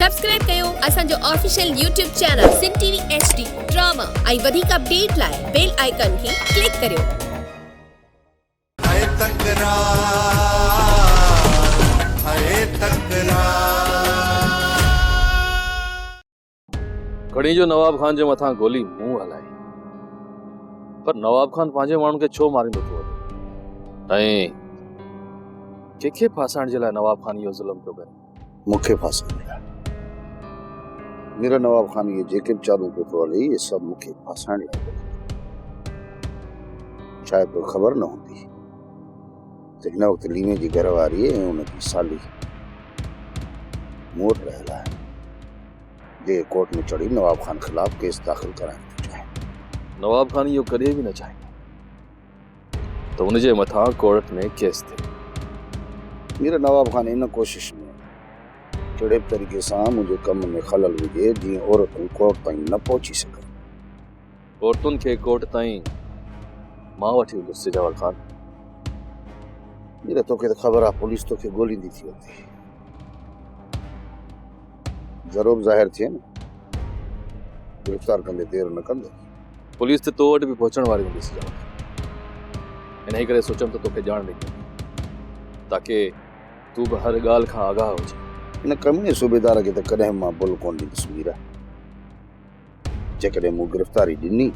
Subscribe ڪيو اسان جو official YouTube channel Sindh T V H D drama ۽ وڌيڪ اپڊيٽ لاء بيل آئيڪان کي ڪلڪ ڪريو. هيء تڪرار هيء تڪرار. گهڻي جو نواب خان جي مٿان گولي مون هلائي پر نواب خان پنهنجي ماڻهن کي ڇو ماريندو ٿو وڃي ۽ ڪنهن کي ڦاسائڻ جي لاء نواب خان اهو ظلم پيو ڪري مون کي ڦاسي ڏياري. مير نواب خان اهي جيڪي به چالون پيو هلائي اهي سڀ مون کي ڦاسائڻ لاء پيو ڪري. شايد توکي خبر نه هوندي ته هن وقت ليمي جي گهر واري ۽ ان جي سالي مون وٽ رهيل آهن جيڪي ڪورٽ ۾ چڙهي نواب خان خلاف ڪيس داخل ڪرائڻ ٿيون چاهين. نواب خان اهو ڪڏهن به نه چاهيندو. ته ان جي مٿان ڪورٽ ۾ ڪيس ٿئي. مير نواب خان ان ڪوشش ۾ ڪهڙي به طريقي سان منهنجي ڪم ۾ خلل وجهي جيئن عورتون ڪورٽ تائين نه پهچي سگهن. عورتن کي ڪورٽ تائين مان وٺي ويندس سجاول خان. مير توکي ته خبر آهي پوليس توکي ڳوليندي ٿي اندي. ضرور ظاهر ٿئي نه. گرفتار ڪندي دير نه ڪندو. پوليس ته تو وٽ به پهچڻ واري هوندي سجاوت. انهيء ڪري سوچيم ته توکي ڄاڻ ڏئي ڏيان. تاڪي تون به هر ڳالهه کان آگاهه هجين. ان ڪميڻي صوبيدار کي ته ڪڏهن به مان ڀل ڪونه ڏيندس ميرا. جيڪڏهن مون گرفتاري ڏني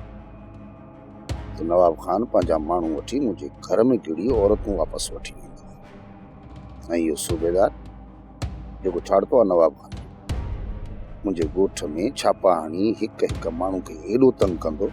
ته نواب خان پنهنجا ماڻهو وٺي منهنجي گهر ۾ گهڙي عورتون واپس وٺي ويندو ۽ اهو صوبيدار جيڪو ڇاڙتو آهي نواب خان منهنجي ڳوٺ ۾ ڇاپا هڻي هڪ هڪ ماڻهو کي ايڏو تنگ ڪندو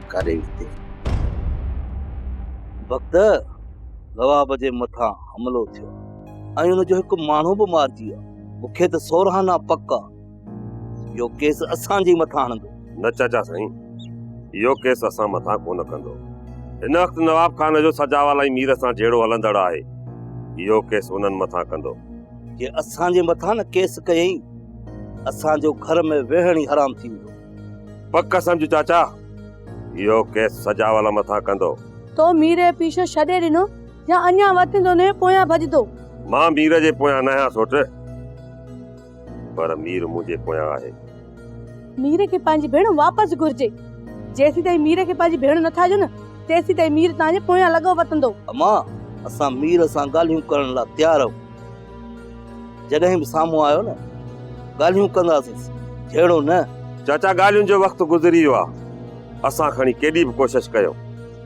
ڪاري وتي. بگدء نواب جي مٿان حملو ٿيو ۽ ان جو هڪ ماڻهو به مارجي ويو. مون کي ته سورهانا پڪ آ اهو ڪيس اسان جي مٿان هڻندو. نه چاچا سائين، اهو ڪيس اسان مٿان ڪونه ڪندو. هن وقت نواب خان جو سجاوال ۽ مير سان جهيڙو هلندڙ آهي. اهو ڪيس انهن مٿان ڪندو. جي اسان جي مٿان نه ڪيس ڪيئي، اسان جو گهر ۾ ويهڻ ئي حرام ٿي ويندو. پڪ سمجهه چاچا، اهو ڪيس سجاول مٿان ڪندو. تو مير جو پيڇو ڇڏي ڏنو يا اڃا وتين تون انهيء پويان ڀڄندو؟ مان مير جي پويان ناهيان سوٽ، پر مير منهنجي پويان آهي. مير کي پنهنجي ڀيڻ واپس گهرجي. جيسيتائين مير کي پنهنجي ڀيڻ نٿا ڏيو نه، تيسيتائين مير توهان جي پويان لڳو وتندو. امان، اسان مير سان ڳالهيون ڪرڻ لاء تيار آهيون. جڏهن به سامهون آيو نه ڳالهيون ڪنداسين جهيڙو نه. چاچا ڳالهين جو وقت گذري ويو آ اسان کڻي ڪيڏي به ڪوشش ڪيو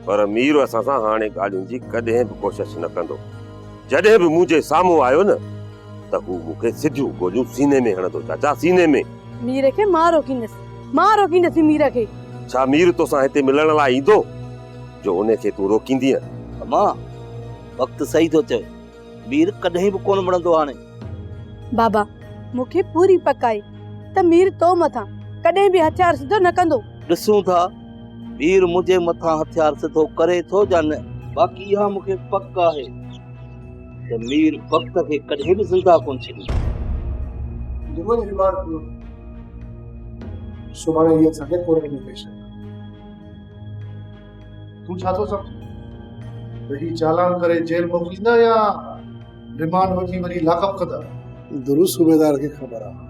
پر مير اسان سان هاڻي ڳالهين جي ڪڏهن به ڪوشش نه ڪندو جڏهن به منهنجي سامهون آيو نه ته هو مون کي سڌيون گوليون سيني ۾ هڻندو چاچا سيني ۾ مير کي مان روڪيندس مان روڪيندس مير کي. ڇا مير توسان هتي ملڻ لاء ايندو جو ان کي تون روڪيندينء. امان وقت صحيح ٿو چوي. مير ڪڏهن به ڪونه مڙندو هاڻي. بابا، مون کي پوري پڪ آهي ته مير تو مٿان ڪڏهن به هٿيار سڌو نه ڪندو. ڏسون ٿا مير منهنجي مٿان هٿيار سڌو ڪري ٿو يا نه. باقي اها مون کي پڪ آهي ته مير بخت کي ڪڏهن به زنده ڪونه ڇڏيندو. جمن ريمارڪ ڪيو ته سڀاڻي اها سنگت پورهيت ۾ پيش ڪندو. تون ڇا ٿو سمجهين ته هي چالان ڪري جيل موڪليندا يا ريمانڊ وٺي وري لاڪ اپ ڪندا درست صوبيدار کي خبر آهي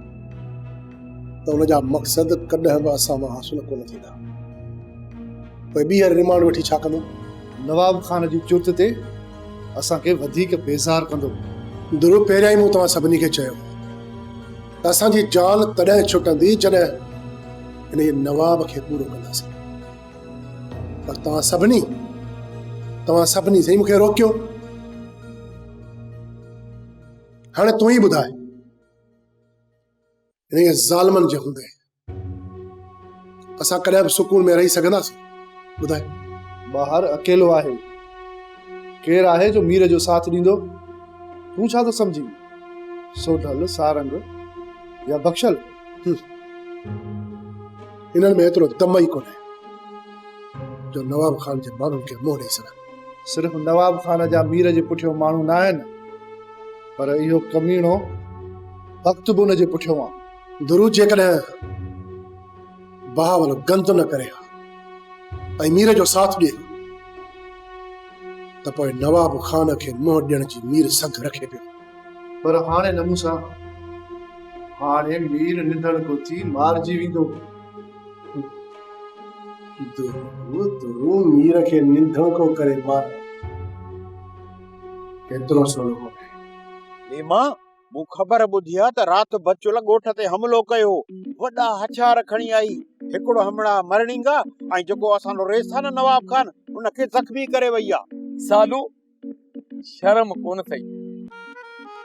ته ان جا مقصد ڪڏهن به اسان مان حاصل ڪونه ٿيندا پوء ٻيهر ريمانڊ وٺي ڇا ڪندو نواب خان جي چرت تي اسان کي وڌيڪ بيزار ڪندو درو پهريان ئي مون توهان سڀني کي چيو ته اسان جي جان تڏهن ڇٽندي جڏهن ان نواب کي پورو ڪنداسين پر توهان سڀني توهان سڀني سائين مونکي روڪيو هاڻي تون ئي ٻڌاء انهي ظالمن جي هوندي اسان ڪڏهن به سڪون ۾ رهي سگهنداسين ٻڌاء ٻاهر اڪيلو آهي ڪير آهي جو مير جو ساٿ ڏيندو تون ڇا ٿو سمجهين سوڍل سارنگ يا بخشل انهن ۾ ايترو دم ئي ڪونهي جو نواب خان جي ماڻهن کي منهن ڏئي سگهن. صرف نواب خان جا مير جي پٺيو ماڻهو نه آهن پر اهو ڪميڻو بخت به ان جي پٺيو آهن. درو جيڪڏهن بهاول گند نه ڪري ها ۽ مير جو ساٿ ڏئي ها ته پوء نواب خان کي منهن ڏيڻ جي مير سگهه رکي پيو. پر هاڻي نه مون سان. هاڻي مير نندڻ ڪو ٿي مارجي ويندو. درو درو مير کي نندڻ ڪو ڪري مار. ڪيترو سولو ڪو ٺهي. نيما، مون خبر ٻڌي آ ته رات بچل ڳوٺ تي حملو ڪيو هو. وڏا هٿيار کڻي آئي. هڪڙو همڙا مرڻينگا ۽ جيڪو اسان جو ريسانه نواب خان ان کي زخمي ڪري وئي آ. سالو، شرم ڪونه ٿئي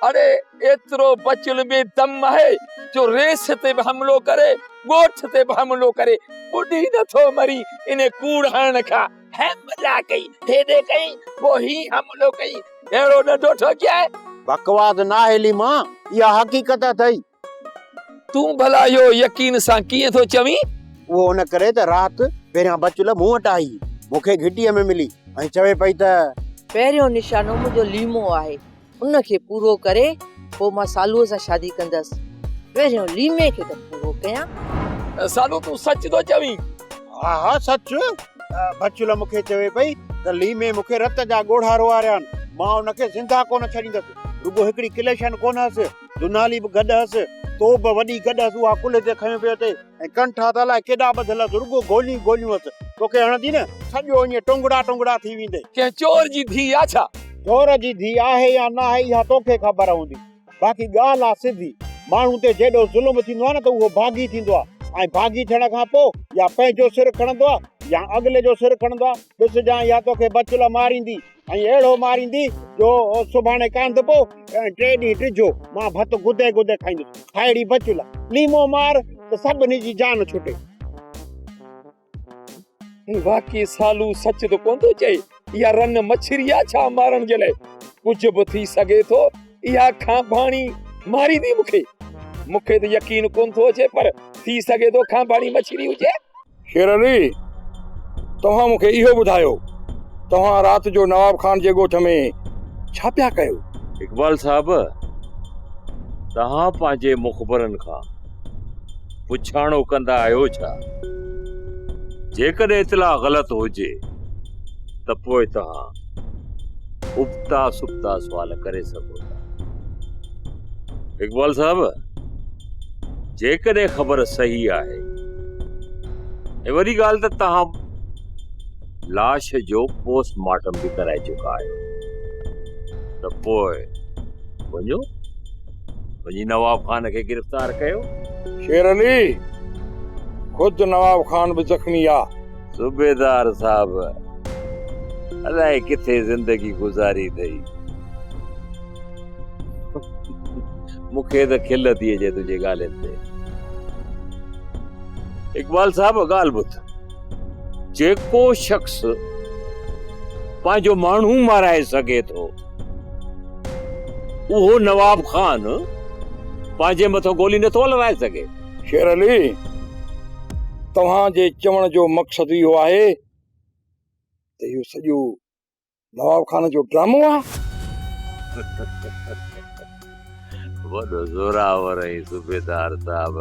اڙي ايترو بچل بي دم آهي جو ريس تي به حملو ڪري ڳوٺ تي به حملو ڪري ٻڏي نٿو مري ان ڪوڙ هڻڻ کان حملا ڪئي هيڏي ڪئي پو هي حملو ڪئي اهڙو ڏڍو ٺوڪيائي بڪواس ناهي ليما اها حقيقت اٿئي تون ڀلا اهو يقين سان ڪيئن ٿو چوين؟ اهو ان ڪري ته رات پهريان بچل مون وٽ آئي، مون کي گهٽيء ۾ ملي ۽ چوي پئي ته. پهريون نشانو منهنجو ليمو آهي، ان کي پورو ڪري پوء مان سالوء سان شادي ڪندس. پهريون ليمي کي ته پورو ڪيان. سالو تون سچ ٿو چوين؟ ها ها سچ. بچل مون کي چوي پئي ته ليمي مون کي رت جا ڳوڙها روئاريا آهن، مان ان کي زنده ڪونه ڇڏيندس. رڳو هڪڙي ڪليشن ڪونه هئس، دونالي به گڏ هئس، تو به وڏي گڏ هئس، اها ڪلهي تي کنيو پيو اٿئي ۽ ڪن ٺاهه ته الاء ڪيڏا ٻڌل هئس، رڳو گوليون گوليون هئس، توکي هڻندي نه، سڄو ائين ٽونگڙا ٽونگڙا ٿي ويندئي. ڪنهن چور جي ڌيء آ ڇا؟ چور جي ڌيء آهي يا ناهي اها توکي خبر هوندي، باقي ڳالهه آ سڌي، ماڻهو تي جيڏو ظلم ٿيندو آ نه ته اهو ڀاڳي ٿيندو آ ۽ ڀاڳي ٿيڻ کان پوء يا پنهنجو سر کڻندو آ يا اڳلي جو سر کڻندو آ، ڏس جانء اها توکي بچل ماريندي. ۽ اهڙو ماريندي جو سڀاڻي ڪانڌپو ۽ ٽي ڏينهن ڊجهو مان ڀت گدي گدي کائيندس. هائڙي بچل، ليمو مار ته سڀني جي جان ڇٽي. باقي سالو سچ ته ڪونه ٿو چئي. اها رن مڇري آ ڇا مارڻ جي لاء. ڪجهه به ٿي سگهي ٿو. اها کانڀاڻي ماريندي مون کي. مون کي ته يقين ڪونه ٿو اچي پر ٿي سگهي ٿو کانڀاڻي مڇري هجي. شير علي! توهان مون کي اهو ٻڌايو، توهان رات جو نواب خان جي ڳوٺ ۾ ڇا پيا ڪيو؟ اقبال صاحب! توهان پنهنجي مخبرن کان پڇاڻو ڪندا آهيو ڇا؟ جيڪڏهن اطلاع غلط هجي ته پوء توهان ابتا سبتا سوال ڪري سگهو ٿا. اقبال صاحب جيڪڏهن خبر صحيح آهي ۽ وڏي ڳالهه ته توهان لاش جو پوسٽ مارٽم به ڪرائي چڪا آهيو ته پوء وڃو وڃي نواب خان کي گرفتار ڪيو شير علي خود نواب خان به زخمي آ صوبيدار صاحب الائي ڪٿي زندگي گذاري اٿئي. مون کي ته کل ٿي اچي تنهنجي ڳالهين تي. اقبال صاحب ڳالهه ٻڌ. جيڪو شخص پنهنجو ماڻهو مارائي سگهي ٿو اهو نواب خان پنهنجي مٿو گولي نٿو هلرائي سگهي. شير علي، توهان جي چوڻ جو مقصد اهو آهي ته اهو سڄو نواب خان جو ڊرامو آهي؟ وڏو زورآور آهين صوبيدار صاحب.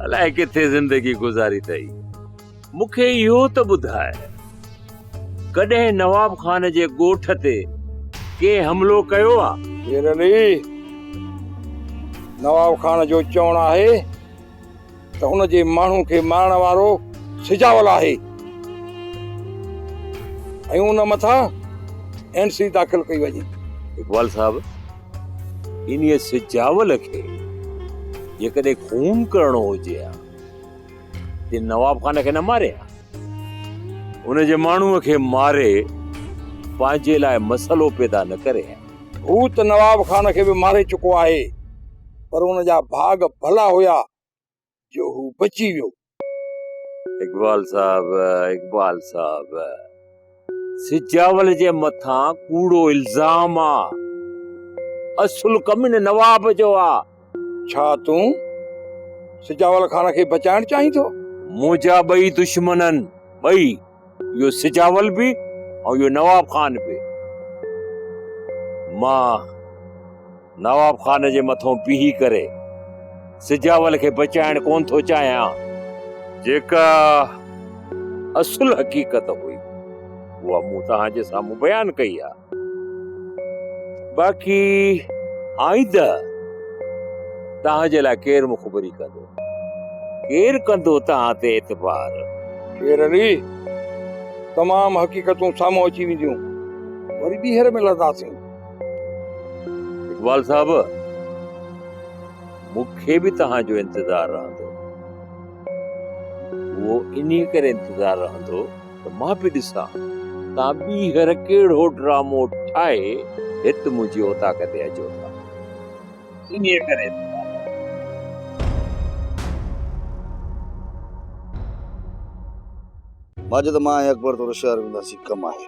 الائي ڪٿي زندگي گذاري اٿئي. مون کي اهو ته ٻڌاء، ڪڏهن نواب خان جي ڳوٺ تي ڪنهن حملو ڪيو آ؟ شير علي، نواب خان جو چوڻ آهي ته ان جي ماڻهن کي مارڻ وارو سجاول آهي ۽ ان مٿان اين سي داخل ڪئي وڃي. اقبال صاحب، انهيء سجاول کي جيڪڏهن خون ڪرڻو هجي ها. جي نواب خان کي نه ماري ها ان جي ماڻهو کي ماري پنهنجي لاء مسئلو پيدا نه ڪري ها. هو ته نواب خان کي به ماري چڪو آهي پر ان جا ڀاڳ ڀلا هيا جو هو بچي ويو. اقبال صاحب اقبال صاحب. سجاول جي مٿان ڪوڙو الزام آ اصل ڪم ان نواب جو آ. ڇا تون سجاول خان کي بچائڻ چاهين ٿو؟ منهنجا ٻئي دشمن آهن ٻئي اهو سجاول به ۽ اهو نواب خان به مان نواب خان جي مٿئون بيهي ڪري سجاول کي بچائڻ ڪونه ٿو چاهيان. جيڪا اصل حقيقت هئي اها مون توهان جي سامهون بيان ڪئي آهي. باقي آئنده توهان جي لاء ڪير مخبري ڪندو؟ ڪير ڪندو توهان تي اعتبار؟ شير علي، تمام حقيقتون سامهون اچي وينديون، وري ٻيهر ملنداسين. اقبال صاحب مون کي به توهان جو انتظار رهندو اهو انهي ڪري انتظار رهندو ته مان به ڏسان توهان ٻيهر ڪهڙو ڊرامو ٺاهي هت منهنجي اوطاق تي اچو ٿا انهي ڪري ماجد مان اڪبر تو رشيار ونداسي ڪم آهي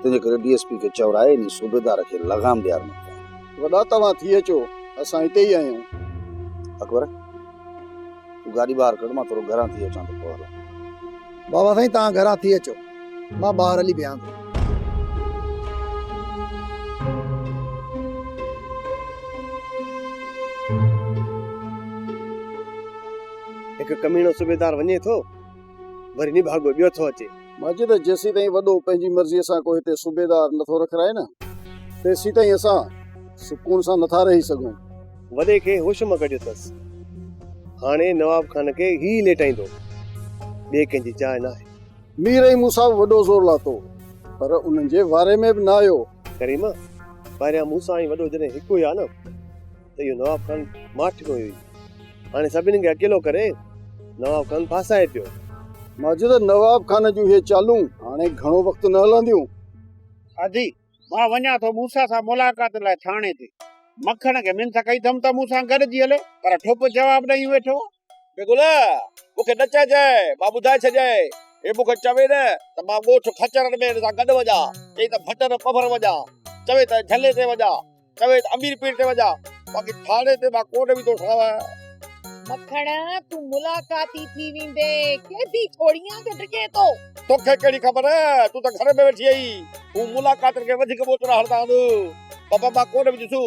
تنهنجي ڪري ڊي ايس پي کي چور آهي انهي صوبيدار کي لغام ڏيار نه ڪيائين. وڏا توهان ٿي اچو اسان هتي ئي آهيون. اڪبر تون گاڏي ٻاهر ڪڍ مان ٿورو گهران ٿي اچان ٿو پوء هلون. بابا سائين توهان گهران ٿي اچو مان ٻاهر هلي بيهان ٿو. هڪ ڪميڻو صوبيدار وڃي ٿو. وري نڀاڳو ٻيو ٿو اچي. ماجد، جيسين تائين وڏو پنهنجي مرضيء سان ڪو هتي صوبيدار نه ٿو رکرائي نه، تيسين تائين اسان سڪون سان نه ٿا رهي سگهون. وڏي کي هوش مان ڪڍيو اٿس. هاڻي نواب خان کي هي ئي ليٽائيندو. ٻئي ڪنهن جي جاء ناهي. مير ۽ موسيٰ به وڏو زور لاتو، پر انهن جي واري ۾ به نه آيو. ڪريمه، پهريان موسيٰ ۽ وڏو جڏهن هڪ هيا نه. ته اهو نواب خان ماٺ ڪوئي هئي. هاڻي سڀني کي اڪيلو ڪري نواب خان ڦاسائي پيو. ماجد، نواب خان جون اهي چالون هاڻي گهڻو وقت نه هلنديون. ادي، مان وڃان ٿو موسيٰ سان ملاقات لاء ٿاڻي تي. مکڻ کي منٿ ڪئي اٿم ته مون سان گڏجي هلي، پر ٺپ جواب ڏئي ويٺو آهي. بي گل! مون کي نه چئجانء، مان ٻڌائي ڇڏيانء. هي مون کي چوي نه ته مان ڳوٺ خچرن ۾ هن سان گڏ وڃان، چئي ته ڀٽر پڀر وڃان، چوي ته جهلي تي وڃان، چوي ته امير پير تي وڃان، باقي ٿاڻي تي مان ڪونه ويندو ساڻس. مکڻ! تون ملاقاتي ٿي ويندين، قيدي ٿوڙيئان جو ڊڄين ٿو. تو کي ڪهڙي خبر، تون ته گهر ۾ ويٺي آهين. هو ملاقاتن کي وڌيڪ ٻوچڙا هڻندا هوندو. بابا مان ڪونه وينديسون.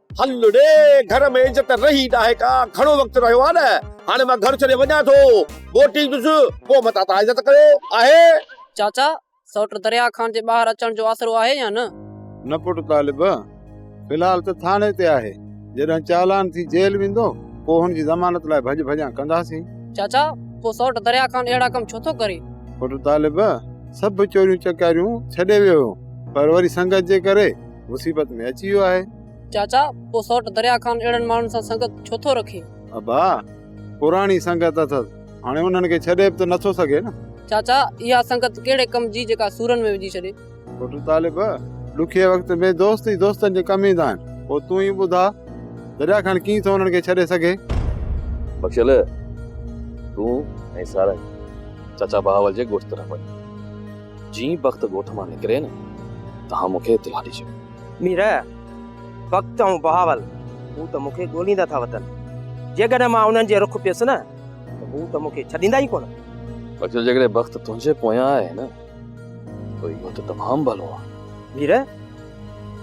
هل ڙي گهر ۾ عزت رهي ناهي ڪا گهڻو وقت رهيو آهي نه هاڻي مان گهر ڇڏي وڃان ٿو موٽي ايندس پوء متان تان عزت ڪيو آهي. چاچا سئوٽ درياء خان جي ٻاهر اچڻ جو آسرو آهي يا نه؟ نه پٽ طالب في الحال ته ٿاڻي تي آهي جڏهن چالان ٿي جيل ويندو پوء هن جي ضمانت لاء ڀڄ ڀڄان ڪنداسين. چاچا پوء سئوٽ درياء خان اهڙا ڪم ڇو ٿو ڪري؟ پٽ طالب سڀ چوريون چڪاريون ڇڏي ويو هو پر وري سنگت جي ڪري مصيبت ۾ اچي ويو آهي. چاچا پوء سوٽ دريا خان اهڙن ماڻهن سان سنگت ڇو ٿو رکي؟ ابا پراڻي سنگت اٿس هاڻي انهن کي ڇڏي به ته نٿو سگهي نه. چاچا اها سنگت ڪهڙي ڪم جي جيڪا سورن ۾ وجهي ڇڏي. پٽ طالب ڏکئي وقت ۾ دوست ئي دوستن جي ڪم ايندا آهن. پوء تون ئي ٻڌاء دريا خان ڪيئن ٿو انهن کي ڇڏي سگهي. بخشل تون ۽ سارنگ چاچا بهاول جي ڳوٺ طرف وڃو. جيئن بخت ڳوٺ مان نڪري نه توهان مون کي اطلاع ڏجو. مير، بخت ۽ بهاول هو ته مون کي ڳوليندا ٿا وتن. جيڪڏهن مان انهن جي رخ پيس نه ته هو ته مون کي ڇڏيندا ئي ڪونه. بچو جيڪڏهن بخت تنهنجي پويان آهي نه ته اهو ته تمام ڀلو آهي. مير،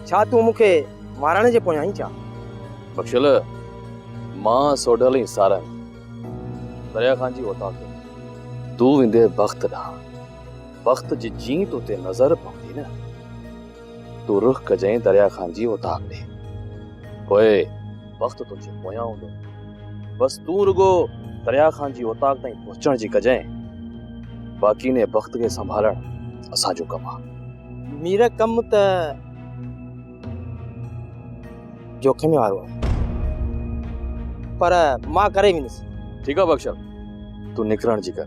ڇا تون مون کي مارڻ جي پويان آهين ڇا؟ بخشل، مان سوڍل ۽ سارنگ دريا خان جي اوطاق ۾ تون ويندينء بخت ڏانهن. وقت جي جيئن تو تي نظر پوندي نه، تون رخ ڪجئين دريا خان جي اوطاق ڏي. پوء وقت تنهنجي پويان هوندو. بس تون رڳو دريا خان جي اوطاق تائين پهچڻ جي ڪجئين. باقي انهيء بخت کي سنڀالڻ اسان جو ڪم آهي. مير ڪم ته جوکمي وارو آهي، پر مان ڪري ويندس. ٺيڪ آهي بخشل، تون نڪرڻ جي ڪر.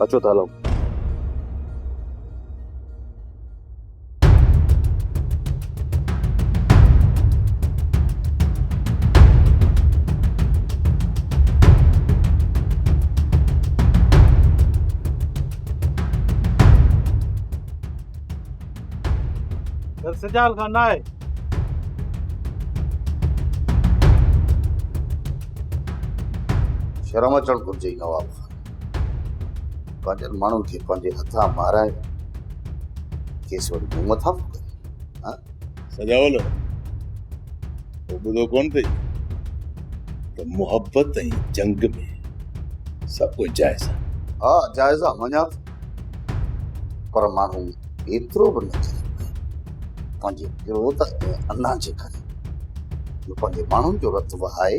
اچو ته هلون. گهر سجال کان نه آهي. شرم اچڻ گهرجي نواب خان. پنهنجن ماڻهن کي پنهنجي هٿان مارائي کيس وري مون مٿان ڦڪري ها سجاول تو ٻڌو ڪون ٿئي ته محبت ۽ جنگ ۾ سڀ ڪجهه جائز آهي ها جائز آهي مڃان ٿو پر ماڻهو ايترو به نه ٿي پنهنجي ڪروڌ ۽ انا جي ڪري جو پنهنجي ماڻهن جو رت وهائي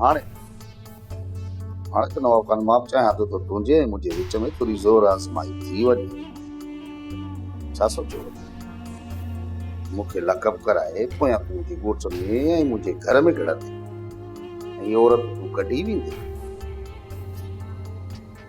هاڻي هاڻي ته نواب خان معاف چاهيان ٿو ته تنهنجي ۽ منهنجي وچ ۾ ٿوري زور آزمائي ٿي وڃي ڇا سوچيو مون کي لقب ڪرائي پويان تون منهنجي ڳوٺ ۾ ۽ منهنجي گهر ۾ گهڙندي ۽ عورت تون ڪڍي ويندي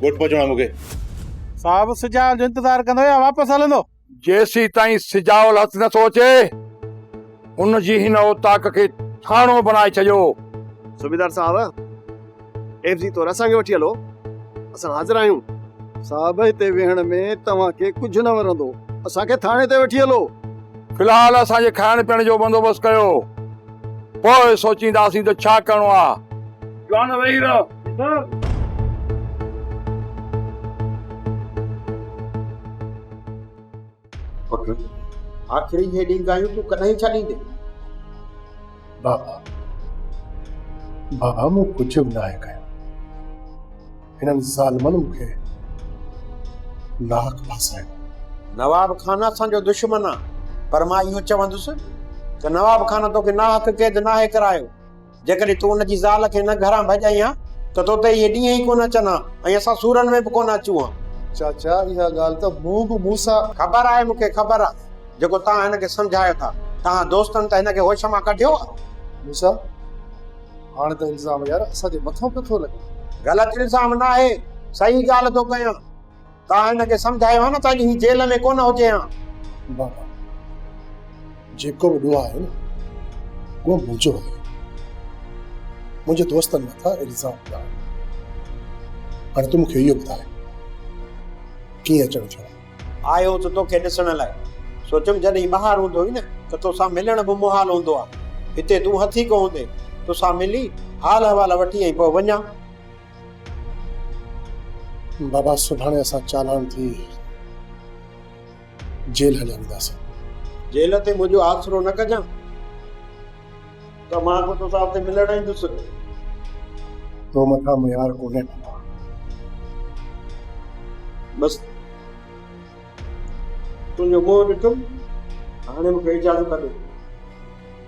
ڳوٺ پهچڻو آهي مون کي. صاحب سجاول جو انتظار ڪندو يا واپس هلندو؟ جيسين تائين سجاول هٿ نه ٿو اچي، ان جي هن اوطاق کي ٿاڻو بنائي ڇڏيو. صوبيدار صاحب، ايف جي طور اسان کي وٺي هلو، اسان حاضر آهيون. صاحب هتي ويهڻ ۾ توهان کي ڪجهه نه ورندو، اسان کي ٿاڻي تي وٺي هلو. في الحال اسان جي کائڻ پيئڻ جو بندوبست ڪيو، پوء سوچينداسين ته ڇا ڪرڻو آهي. جوان ويهي رهه. پٽ! آخري هيڏيون ڳالهيون تون ڪڏهن ڇڏيندين؟ بابا! بابا مون ڪجهه به ناهي ڪيو. هنن ظالمن مون کي ناحق ڦاسايو. نواب خان اسان جو دشمن آ پر مان اهو چوندس ته نواب خان توکي ناحق قيد ناهي ڪرايو. جيڪڏهن تون ان جي زال کي نه گهران ڀڄائين ها ته تو تي اهي ڏينهن ئي ڪونه اچن ها ۽ اسان سورن ۾ به ڪونه اچون ها. چاچا اها ڳالهه ته مون به مون سان. خبر آهي مون کي خبر آهي جيڪو توهان هن کي سمجهايو ٿا توهان دوستن ته هن کي هوش مان ڪڍيو آهي. موسيٰ هاڻ ته الزام يار اسان جي مٿان پيو ٿو لڳي. غلط الزام ناهي صحيح ڳالهه ٿو ڪيان. تان هن کي سمجهايو ها نه ته اڄ هي جيل ۾ ڪونه هجي ها. بابا جيڪو به ڏوهه آهي نه اهو منهنجو آهي. منهنجي دوستن مٿان الزام پيا آهن. هاڻي تون مون کي اهو ٻڌاء ڪيئن اچڻ ٿيو؟ آيو ته توکي ڏسڻ لاء. سوچيم جڏهن ٻاهر هوندو هئي نه ته توسان ملڻ به محال هوندو آهي. هتي تون هٿي ڪو هوندين. توسان ملي حال احوال وٺي ۽ پوء وڃان. بابا سڀاڻي اسان چالاڻ ٿي جيل هليا وينداسين. جيل تي منهنجو آسرو نه ڪجان ته مان به توسان اتي ملڻ ايندس. تو مٿان ميار ڪونهي بابا. بس تنهنجو منهن ڏٺم هاڻي مون کي اجازت ڏي.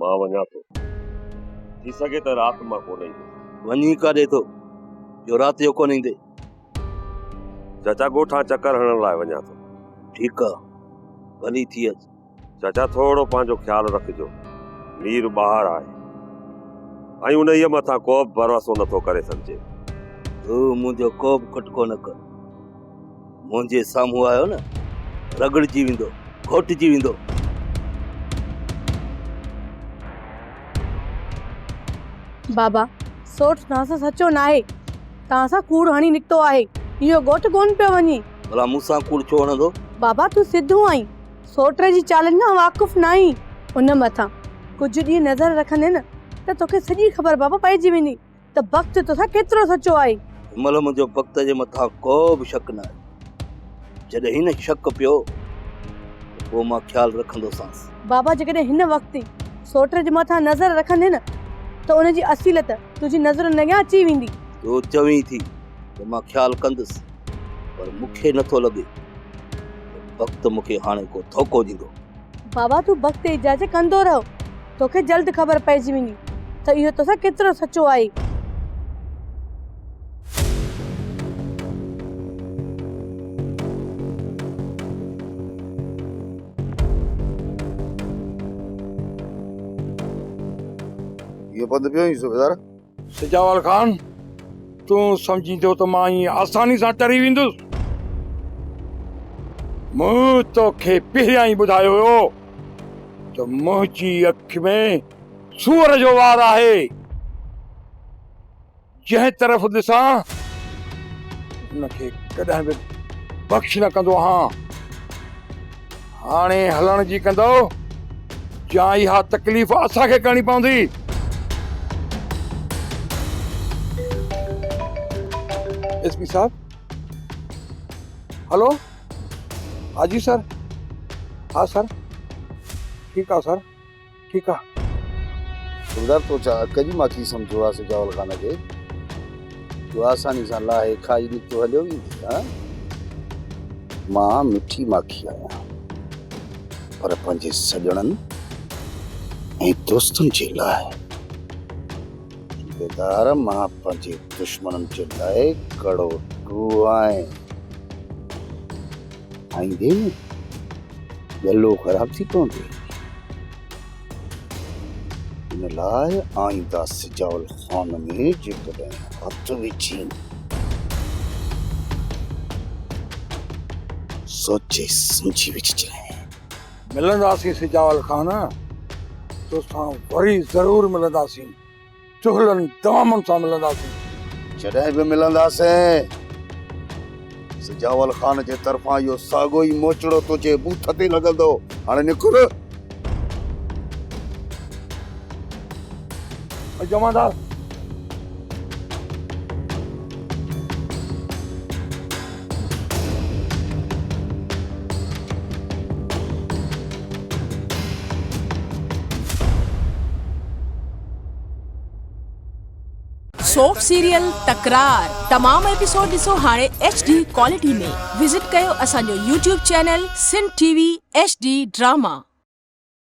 مان وڃان ٿو. ٿي سگهي ته رات مان ڪونه ايندو. وڃي ڪاڏي ٿو جو رات جو ڪونه ايندي؟ چاچا ڳوٺان چڪر هڻڻ لاء وڃان ٿو. ٺيڪ آ. ڀلي ٿي اچ. چاچا ٿورڙو پنهنجو خيال رکجو. مير ٻاهر آهي ۽ انهيء مٿان ڪوبه ڀروسو نٿو ڪري سگهجي. تون منهنجو ڪوبه ڪٽڪو نه ڪر. منهنجي سامهون آيو نه رڳڙجي ويندو گهوٽجي ويندو. بابا سورٺ توهان سان سچو ناهي توهان سان ڪوڙ هڻي نڪتو آهي اهو گهوٽ ڪونه پيو وڃي. ڀلا مون سان ڪوڙ ڇو هڻندو. بابا تون سڌو آهين سورٺ جي چالن کان واقف ناهين. ان مٿان ڪجهه ڏينهن نظر رکندين ته توکي سڄي خبر بابا پئجي ويندي. ته بخت توسان ڪيترو سچو آهي. هن مهل منهنجو بخت جي مٿان ڪو به شڪ نه آهي. جڏهن هن شڪ پيو ته پوء مان خيال رکندوسانس. بابا جيڪڏهن هن وقت ئي سوٽر جي مٿان نظر رکندين ته ان جي اصيلت تنهنجي نظرن اڳيان اچي ويندي. تو چوين ٿي ته مان خيال ڪندس پر مون کي نٿو لڳي ته بخت مون کي هاڻي ڪو ڌوڪو ڏيندو. بابا تون بخت ايجاز ڪندو رهه. توکي جلد خبر پئجي ويندي ته اهو توسان ڪيترو سچو آهي. اهو پنڌ پيو وڃي صوبيدار. سجاول خان، تون سمجهين ٿو ته مان ائين آساني سان ٽري ويندس؟ مون توکي پهريان ئي ٻڌايو هيو ته منهنجي اک ۾ سوئر جو وار آهي. جنهن طرف ڏسان ان کي ڪڏهن به بخش نه ڪندو آهان. هاڻي هلڻ جي ڪندؤ يا اها تڪليف اسان کي ڪرڻي پوندي. ايس پي صاحب هلو ها جي سر ها سر ٺيڪ آ سر. ٺيڪ آ. صوبيدار تو ڇا اڪ جي ماکي سمجهيو آ سجاول خان کي جو آساني سان لاهي کائي نڪتو هليو ويندي ها مان مٺي ماکي آهيان پر پنهنجي سڄڻن ۽ دوستن جي لاء صوبيدار مان پنهنجي دشمنن جي لاء ڪڙو ٽو آهيان. کائيندي نه ڳلو خراب ٿي پوندو. ان لاء آئينده سجاول خان ۾ جيڪڏهن هٿ وجهين سوچي سمجهي وجهجانء. ملنداسين سجاول خان، توسان وري ضرور ملنداسين. چغلن دامن سان ملنداسين. جڏهن به ملنداسين. سجاول خان جي طرفان اهو ساڳيو ئي موچڙو تنهنجي بوٿ تي لڳندو. هاڻي نڪر. جمعدار. سوف سيريل تڪرار تمام ايپيسوڊ ڏسو هاڻي ايڇ ڊي ڪوالٽي ۾ وزٽ ڪيو اسان جو YouTube channel Sindh T V H D drama.